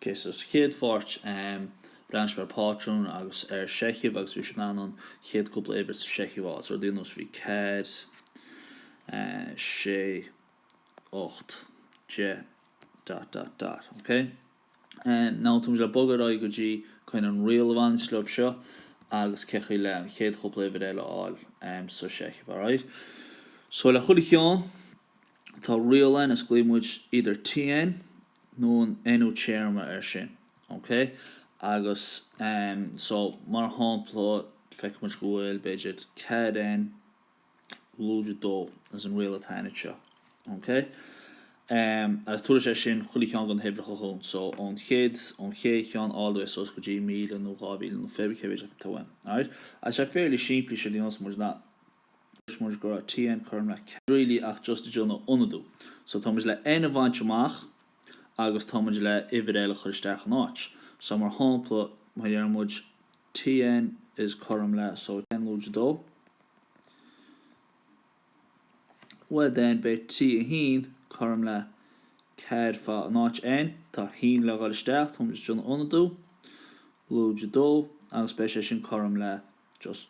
OK so sa chéad pháirt? Breathnaímis ar phátrún agus ar sheicheamh agus bhí sibh in ann an chéad cúpla uimhir sa seicheamh a fháil. So rud ar nós bhí 4, 6, 8, 10. dot dot dot, OK? Now táimid le bogadh ar aghaidh go dtí chun an riail a bhaineanns leo seo agus cén chaoi le an chéad chúpla uimhir eile a fháil sa seicheamh, alright? So le chuile cheann. Tá riail ann, is glaonn muid either TN nó an NU téarma ar sin. OK? Agus ehm so mar shámpla feicfidh muid go bhfuil b'fhéidir ceathair N lúide dó as an riail atá ann seo. OK? Ehm agus tabharfaidh sé sin chuile cheann de na huimhreacha chugainn so ón chéad ón chéad cheann all the way suas go dtí míle nó dhá mhíle nó fé brí cé mhéid acu atá ann. Alright? Agus tá sé fairly simplí sin aontaíonn muid nach Dúirt muid go raibh TN cothrom le cead really ach just ag déanamh ionadú. So tá muid le N a bhaint amach agus tá muid le uimhir eile a chur isteach in áit. So mar shampla má deireann muid TN is cothrom le so TN lúide 2, bhuel then beidh T1 cothrom le 4 fá in áit N, tá 1 le dhul isteach, tá muid ag déanamh ionadú, lúide 2 agus beidh sé sin cothrom le just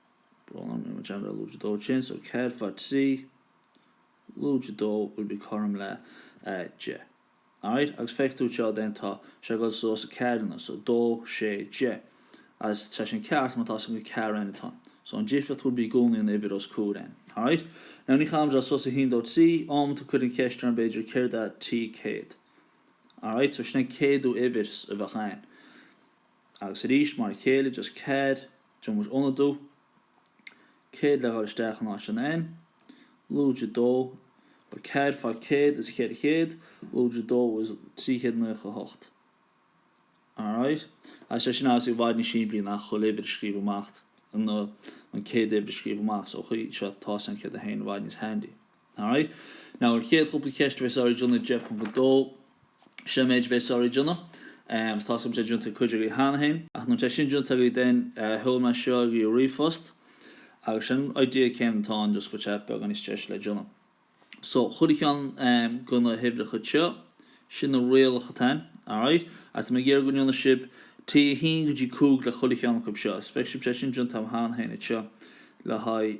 Bronagh General Lúide 2 Chéad So 4 fá 3 Lúide 2 will be cothrom le 10. Alright, agus féach tú seo then tá sé ag dul suas ceathair, so 2, 6, 10. As sé sin ceart má tá san go cear then atá. So an difríocht would be i gcónaí an uimhir os comhair n. Alright? Now ní chaithfidh sé dul suas 1, 2, 3, amanta cuirfear an cheist orm b'fhéidir céard é T céad. Alright, so sin an céadú uimhir a bheadh ann. Agus arís mar a chéile just cead. Déanann muid ionadú, céad le dhul isteach in áit an N, lúide 2, so 4 fá 100 is 400, lúide 2 is 398. Alright. Tá sé sin obviously i bhfad níos simplí ná chuile uimhir a scríobh amach, nó an céad uimhir a scríobh amach, so chuige seo, tá 101 i bhfad níos handy. Alright. Now an chéad chúpla ceist a bheidh sibh ag déanamh 10.2, sin an méid a bheidh sibh ag déanamh. Agus tá súil agam go mbeidh sé déanta ag cuid agaibh cheana féin. Ach mura mbeidh sé sin déanta agaibh then sheol mé seo agaibh i ríomhphost agus sin an idea céanna atá ann just go bhfuil sé beagán níos deise le déanamh. So chuile cheann de na huimhreacha seo, sin na rialacha atá ann. Alright. Agus tá mé ag iarraidh go ndéanfaidh sibh T1 go dtí 5 le chuile cheann acu seo. Is feicfidh sibh tá sé sin déanta agam cheana féin anseo le haghaidh